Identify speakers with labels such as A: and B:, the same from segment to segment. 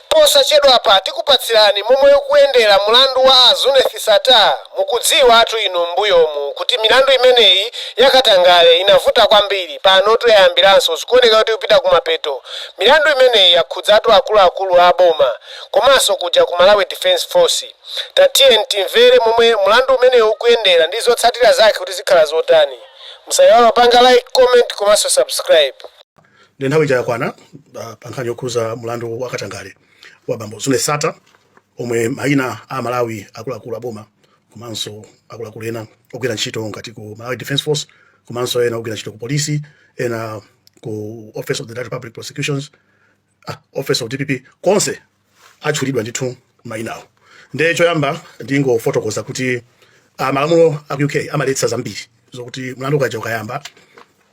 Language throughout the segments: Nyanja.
A: Posachedwapa tikupatsirani momwe ukuyendera mlandu wa a Zuneth Sattar. Mukudziwatu inu m'mbuyomu kuti milandu imeneyi ya katangale inavuta kwambiri, panotu yayambiranso, zikuoneka kuti ikupita kumapeto. Milandu imeneyi yakhudzatu akuluakulu a boma komanso kuja ku Malawi Defence Force. Tatiyeni timvere momwe mlandu umeneyi ukuyendera ndi zotsatira zake kuti zikhala zotani. Musaiwale kupanga Like, Comment komanso Subscribe. nde nthawi
B: ija yakwana ah, pa nkhani yokhudza mlandu wa katangale wa bambo Zuneth Sattar omwe mayina a malawi akuluakulu aboma komanso akuluakulu ena ogwira ntchito ngati ku malawi defence force komanso ena ogwira ntchito ku polisi ena ku office of the Director of public prosecutions ah, office of dpp konse atchulidwa ndithu mayinawo. Nde choyamba ndingofotokoza kuti ah, malamulo a ku UK amaletsa zambiri zokuti mlandu ukaja ukayamba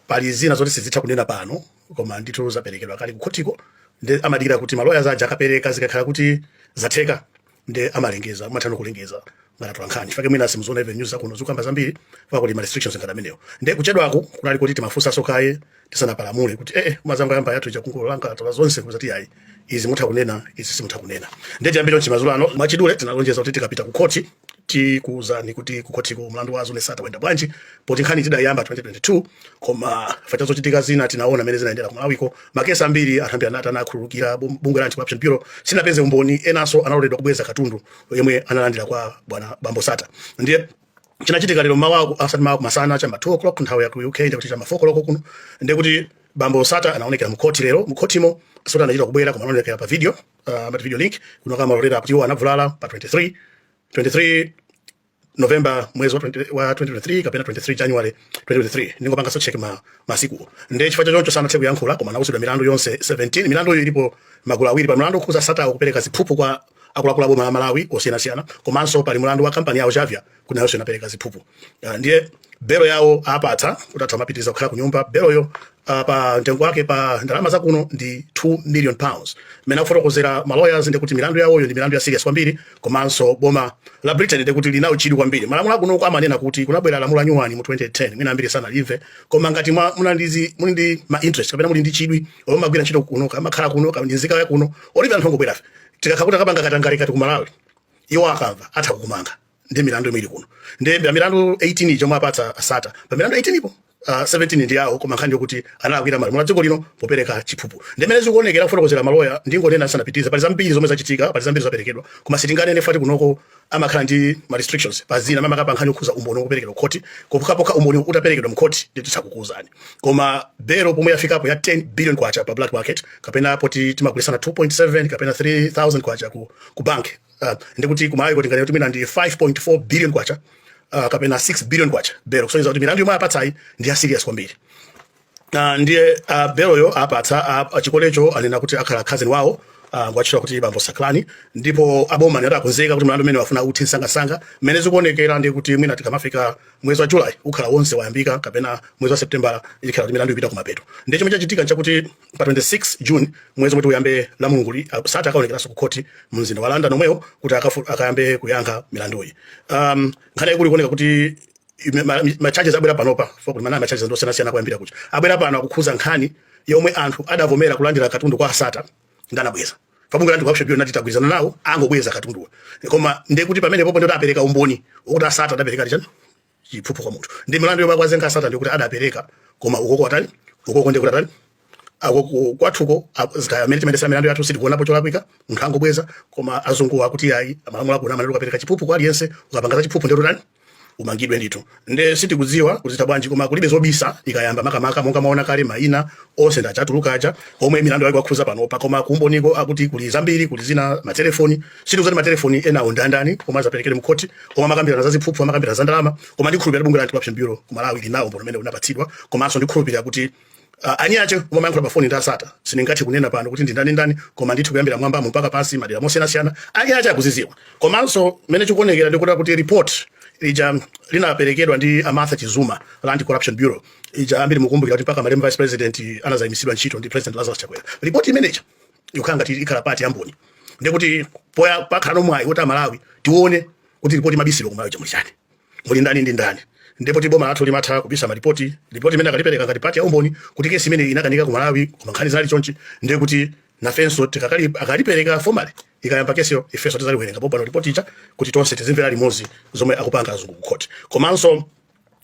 B: pali zina zoti sizitha kunena pano koma ndithu zaperekedwa kale kukhotiko nde amadikira kuti maloya zaja akapereka zikakhala kuti zatheka nde amalengeza amatha no kulengeza ngati atolankhani chifukwa chake mwina simuziona even news zakuno zikukamba zambiri chifukwa kuli ma restrictions ngati amenewo nde kuchedwaku kunali kuti timafunsanso kaye tisanapalamule kuti ee eh, eh, anzanga loya amba yathu chakungolanga atola zonse kuzati ayi izi mutha kunena izi simutha kunena ndiye tiyambire mchimazulo ano mwachidule tinalonjeza kuti tikapita kukhoti tikuuzani kuti kukhotiko mlandu wa Zuneth Sattar wayenda bwanji poti nkhani tidayamba 2022 koma chifukwa cha zochitika zina tinaona mene zinaendera ku Malawiko makesi ambiri anthu ambiri anati anakhululukira bungwe la anti-corruption bureau sinapeze umboni enanso analoledwa kubweza katundu yemwe analandira kwa bwana Bambo Sattar ndiye chinachitika lero mawa aku- asati mawa kumasana chama 2 o'clock nthawi ya ku uk ndikuti chama 4 o'clock kuno ndikuti bambo Sattar anaonekera mkhoti lero mkhotimo sikuti anachita kubwera koma anaonekera pa video uh, pa video link kuno amalolera kuti iwo anavulala pa 23 23 november mwezi wa 20 wa 2023 kapena 23 january 2023 ndingopanga so check ma masiku nde chifukwa chachoncho sanathe kuyankhula koma anauzidwa milandu yonse 17 milandu iyo ilipo magulu awiri pali mlandu okhudza Sattar kupereka ziphuphu kwa akuluakulu aboma la Malawi osiyanasiyana komanso pali mulandu wa kampani yawo Xavier kuti nayonso inapereka ziphuphu uh, ndiye belo yawo apatsa kuti atha kumapitiriza kukhala ku nyumba beloyo uh, pa mtengo wake pa ndalama za kuno ndi 2 million pounds mmene akufotokozera ma lawyers ndi kuti milandu yawoyo ndi milandu ya serious kwambiri komanso boma la Britain ndi kuti lili nawo chidwi kwambiri malamulo akuno uko amanena kuti kunabwera lamulo la nyuwani mu 2010 mwina ambiri sanalimve koma ngati mwa- muna ndi- muli ndi ma interest kapena muli ndi chidwi mumagwira ntchito kuno kaya mumakhala kuno ndi nzika ya kuno olo ife anthu angobwerafe tikakhala kuti takapanga katangale ngati ku malawi iwo akamva atha kukumanga ndi milandu yomwe ili kuno nde pa milandu 18 ija omwe apatsa a Sattar pa milandu 18 po uh, 17 ndi yawo koma nkhani ndi yokuti analakwira malamulo a dziko lino popereka chiphuphu ndi mmene zikuonekera kufotokozera maloya ndingonena ndisanapitirize pali zambiri zomwe zachitika pali zambiri zaperekedwa koma sitinganene chifukwa choti kunoko amakhala ndi ma restrictions pa zina makamaka pa nkhani yokhuza umboni woperekedwa khoti pokhapokha umboni utaperekedwa mkhoti ndiye tizakuuzani koma belo pomwe yafikapo ya 10 billion kwacha pa black market kapena popeza timagulitsana 2.7 kapena 3000 kwacha ku, ku bank uh, ndikuti kumalawi kuti ngati mwina ndi 5.4 billion kwacha uh, kapena 6 billion kwacha belo kusonyeza kuti milandu yomwe apatsayi ndi ya serious kwambiri Ah, ndiye ah, beloyo apatsa ah, ah, chikolecho anena kuti akhala cousin wawo ah, ngwatchula kuti bambo saklani ndipo aboma akuti akonzeka kuti mlandu umene akufuna uthe msangamsanga mmene zikuonekera ndi kuti mwina tikamafika mwezi wa julayi ukhala wonse wayambika kapena mwezi wa septembala ikhala kuti milandu ipita kumapeto ndiye chomwe chachitika nchakuti pa 26 june mwezi womwe uyambe lamulunguli ah, Sattar akaonekeranso ku khoti mu mzinda wa london momwemo kuti akafu- akayambe kuyankha milanduyi um, nkhani yaikulu ikuoneka kuti ime- ma- ma charges abwera panopa chifukwa kuti ma- ma charges ndi osiyanasiyana kuyambira kucha abwera pano akukhuza nkhani yomwe anthu adavomera kulandira katundu kwa a Sattar nde anabweza pa bungwe la anti corruption bureau anati tagwirizana nawo angobweza katunduwa koma ndiye kuti pamene popo ndi kuti apereka umboni wokuti a Sattar adapereka chani chiphuphu kwa munthu ndi milandu yomwe akuwazenga a Sattar ndikuti adapereka koma ukoko atani ukoko ndikuti atani ako ku- kwathuko ako- kaya mmene timayendesera milandu yathu sitikuonapo cholakwika munthu angobweza koma azunguwa akuti ayi malamulo akuno amanena ukapereka chiphuphu kwa aliyense ukapanga za chiphuphu nde utani umangidwe ndithu nde sitikudziwa kuti zitha bwanji koma kulibe zobisa ikayamba makamaka monga mwaona kale maina onse ndatchula aja omwe milandu yake yakhuza panopa koma kumboniko akuti kuli zambiri kuli zina matelefoni sitikudziwa kuti matelefoni enawo ndandani koma azaperekedwa mkhoti koma amakambirana za ziphuphu amakambirana za ndalama koma ndikhulupirira bungwe la anti corruption bureau ku malawi lili nawo umboni umene linapatsidwa komanso ndikhulupirira kuti Uh, ah, eni ake amayankhula pafoni ndi a Sattar sindingathe kunena pano kuti ndindani ndani koma ndithu kuyambira mmwambamo mpaka pansi madera osiyanasiyana eni ake akuziziwa komanso mmene zikuonekera ndikuti kuti report ija linaperekedwa ndi a Martha Chizuma la Anti Corruption Bureau ija ambiri mukumbukira kuti mpaka malemu vice president anazayimisidwa ntchito ndi president Lazarus Chakwera report imeneja yokhala ngati ikhala part ya umboni ndikuti pompo pakhala ndi mwayi kuti amalawi tione kuti report amabisiralo kumalawi chamuli chani muli ndani ndi ndani ndipo poti boma lathu limatha kubisa malipoti lipoti imene akalipereka ngati part ya umboni kuti kesi imene inakanika ku malawi koma nkhani zinali chonchi ndiye kuti nafenso tikakali- akalipereka formally ikayamba kesiyo ifenso tizaliwerenga popano lipoti ija kuti tonse tizimvera limodzi zomwe akupanga azungu ku khoti komanso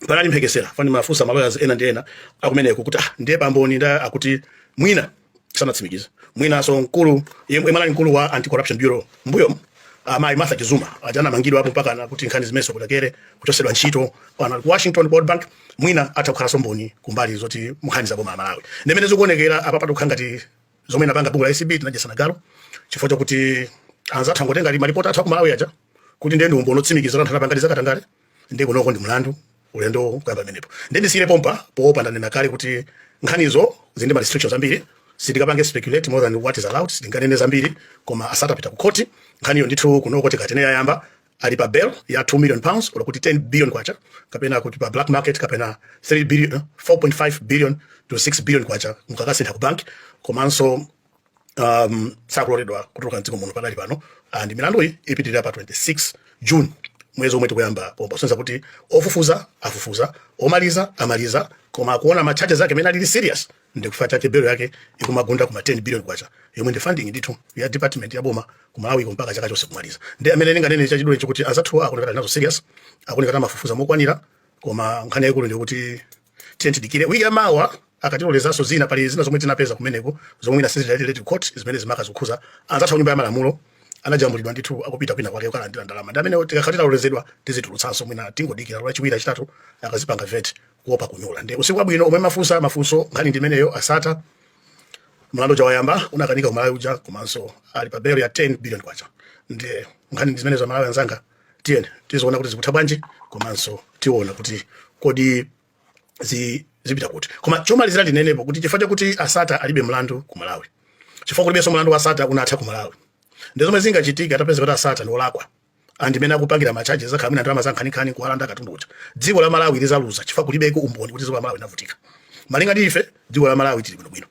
B: panali mphekesera pomwe ndimafunsa ma lawyers ena ndi ena akumeneko kuti ah ndiye pa mboni ndani akuti mwina sanatsimikize mwinaso mkulu yemwe anali mkulu wa anti corruption bureau mbuyomu amayi Martha Chizuma aja anamangidwa aja mpakana pa nkhani zimenezo kukathera kuchosedwa ntchito pano ali ku Washington World Bank mwina atha kukhalaso mboni kumbali zoti nkhani za boma la Malawi ndi mmene zikuonekera apa pakukhala ngati zomwe tinapanga ku bungwe la ACB tinadyesana galo chifukwa chakuti anzathu angotenga malipoti athu aku Malawi aja kuti ndiye ndi umboni otsimikizira kuti anthu anapanga zakatangale nde kunoko ndi mlandu ulendo kuyamba pamenepo nde ndisiyire pompa poopa ndanena kale kuti nkhanizo zili ndi ma restrictions ambiri sindikapange speculate more than what is allowed sindinganene zambiri koma asatapita ku khoti nkhaniyo ndithu kunoko tikatene yayamba ali pa bail ya 2 million pounds olo kuti 10 billion kwacha kapena kuti pa black market kapena 3 billion 4.5 billion to 6 billion kwacha mukakasintha ku bank komanso um, sakuloledwa kutuluka mdziko muno pakali pano and milanduyi ipitirira pa 26 june mwezi omwe tikuyamba pompa kusonyeza kuti ofufuza afufuza omaliza amaliza koma akuona ma charges ake mmene alili serious ndi chifukwa chake belo yake ikumagunda kuma 10 billion kwacha yomwe ndi funding ndithu ya department ya boma ku malawi mpaka chaka chonse kumaliza ndiye chimene ndinganene chachidule chikuti anzathuwa akuoneka ali nazo serious akuoneka kuti amafufuza mokwanira koma nkhani yaikulu ndikuti Tiyeni tidikire wiki ya mawa akatilolezanso zina. Pali zina zomwe tinapeza kumeneko zomwe mwina sizidatilete court zimene zili makamaka zokhuza anzathu a nyumba ya malamulo anajambulidwa ndithu akupita kwina kwake kukalandira ndalama ndi amenewa. Tikakhala titalolezedwa tizitulutsanso, mwina tingodikira lachiwiri lachitatu akazipanga vet kuopa kunyula. Ndi usiku wabwino omwe mafunsa mafunso nkhani ndi imeneyo a sattar mlandu uja wayamba unakanika ku malawi uja komanso ali pa belo ya 10 billion kwacha nde nkhani ndi zimenezo amalawi anzanga tiyeni tiziona kuti zikutha bwanji komanso tiona kuti kodi zi zipita kuti koma chomalizira ndinenepo kuti chifukwa chakuti a sattar alibe mlandu ku malawi chifukwa kulibenso mlandu wa sattar unatha ku malawi nde zomwe zingachitike atapeza kuti a sattar ndi olakwa and mmene akupangira machaji akhala mwina ndalama zankhaninkhani kuwalanda katundu uja dziko la malawi lizaluza chifukwa kulibeko umboni kuti dziko la malawi linavutika malinga ndi ife dziko la malawi tili bwinobwino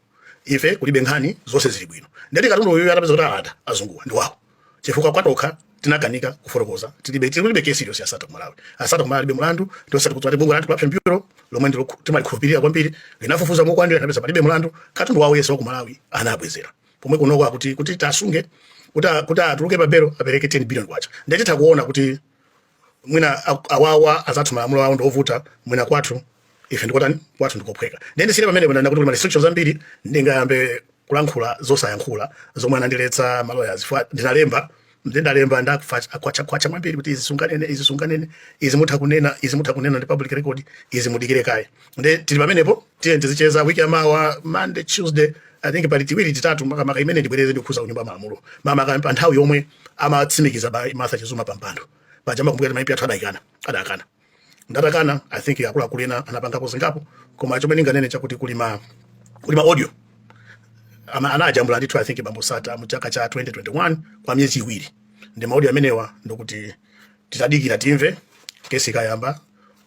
B: ife kulibe nkhani zonse zili bwino nde kuti katundu uyu atapeza kuti alanda azunguwa ndi wawo chifukwa patokha tinakanika kufotokoza tilibe tilibe kesi iliyonse ya sattar ku malawi a sattar ku malawi alibe mulandu ndiye zoti kuti ati bungwe la anti-corruption bureau lomwe ndilo timalikhulupirira kwambiri linafufuza mokwanira linapeza palibe mulandu katundu wawo onse wa ku malawi anabwezera pomwe kunoko akuti kuti tasunge kuti a- kuti atuluke pa belo apereke 10 billion kwacha nde titha kuona kuti mwina awawa azathu malamulo awo ndiovuta mwina kwathu ife ndikotani kwathu ndikophweka nde ndisiyire pamenepo ndanena kuti kuli ma restrictions ambiri ndingayambe kulankhula zosayankhula zomwe anandiletsa maloya chifukwa ndinalemba ndinalemba ndakwachakwacha mwambiri kuti izi sunganene izi sunganene izi mutha kunena izi mutha kunena ndi public record izi mudikire kaye nde tili pamenepo tiyeni tizicheza wiki yamawa monday tuesday i think pali tiwiri titatu makamaka imene ndibwereze ndikukhuza kunyumba ya malamulo makamaka pa nthawi yomwe amatsimikiza a martha chizuma pampando paja mukumbuka kuti ma mp athu adamukana adakana ndatakana i think akuluakulu ena anapangapo zingapo koma chomwe ndinganene chakuti kuli ma kuli ma audio amene anajambula ndithu i think bambo sattar mu chaka cha 2021 kwa miyezi iwiri nde ma audio amenewa ndikuti titadikira timve kesi ikayamba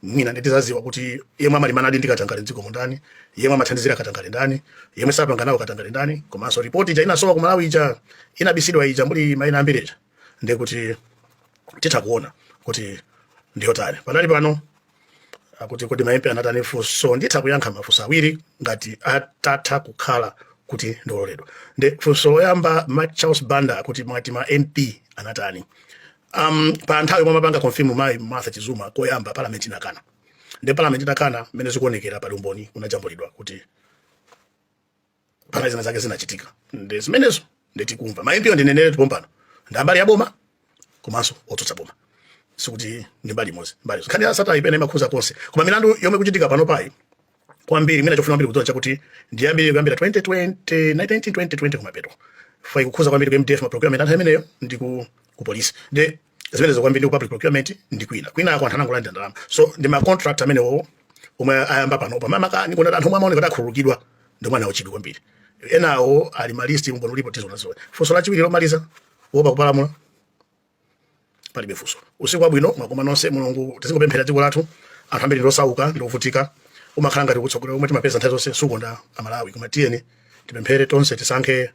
B: mwina ndi tizaziwa kuti yemwe amalimbanadi ndi katangale mdziko muno ndani yemwe amathandizira katangale ndani yemwe sapanga nawo katangale ndani komanso ripoti ija inasowa ku malawi ija inabisidwa ija muli maina ambiri ija ndi kuti titha kuona kuti ndiyotani pakadali pano akuti kodi ma mp anatani funso nditha kuyankha mafunso awiri ngati atati akhala kuti ndaloledwa ndi funso loyamba a charles banda akuti mwati ma mp anatani um, pa nthawi yomwe amapanga confirm mayi Martha Chizuma koyamba parliament inakana ndiye parliament itakana mmene zikuonekera pali umboni unajambulidwa kuti panali zina zake zinachitika ndi zimenezo ndiye tikumva ma MP ndineneretu pompano ndi a mbali ya boma komanso otsutsa boma sikuti ndi mbali imodzi mbali nkhani ya Sattar imene imakhuza konse koma milandu yomwe ikuchitika panopayi kwambiri mwina chofuna kwambiri kudziwa nchakuti ndi yambiri kuyambira 2020 1920 kumapeto fai ikukhudza kwambiri ku mdf ma procurement anthu amenewo ndi ku ku police ndi zimenezo kwambiri ndi ku public procurement ndi kwina kwinako anthu anangolandira ndalama so ndi ma contract amenewo omwe ayamba panopa mama kani kuna anthu omwe amaoneka kuti akhululukidwa ndi mwana wachidwi kwambiri enawo ali malisti umboni ulipo tizionazo funso lachiwiri lomaliza wopa kupalamula palibe funso usiku wabwino mwakoma nonse mulungu tizingopempherera dziko lathu anthu ambiri ndosauka akuvutika umakhala ngati atsogoleri omwe timapeza nthawi zonse sakonda amalawi koma tiyeni tipemphere tonse tisankhe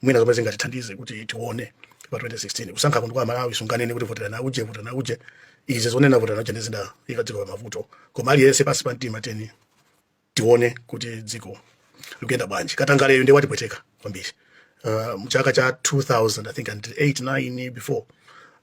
B: mwina zomwe zingatithandize kuti tione pa 2016 kusankha kuli kwa amalawi sunganene kuti voterani uje voterani uje izi zonena voterani uje ndi zidaika dziko pa mavuto koma aliyense pansi pa mtima tiyeni tione kuti dziko likuyenda bwanji katangaleyo ndiye watipweteka kwambiri uh, mchaka cha 2000 i think and 8 9 before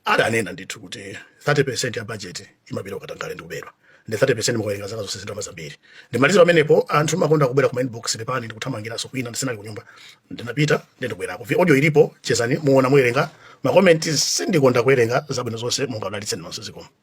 B: adanena ndithu kuti 30 ya budget imapita ku katangale ndi kubedwa ndiye 30 mukawerenga zaka zonse ndi ndalama zambiri ndimaliza pamenepo anthu mumakonda kubwera ku inbox pepani ndikuthamangiranso kwina ndisinali kunyumba ndinapita ndiye ndabwerako vi audio ilipo chezani muona muwerenga makomenti sindikonda kuwerenga zabwino zonse mulungu akudalitseni nonse zikomo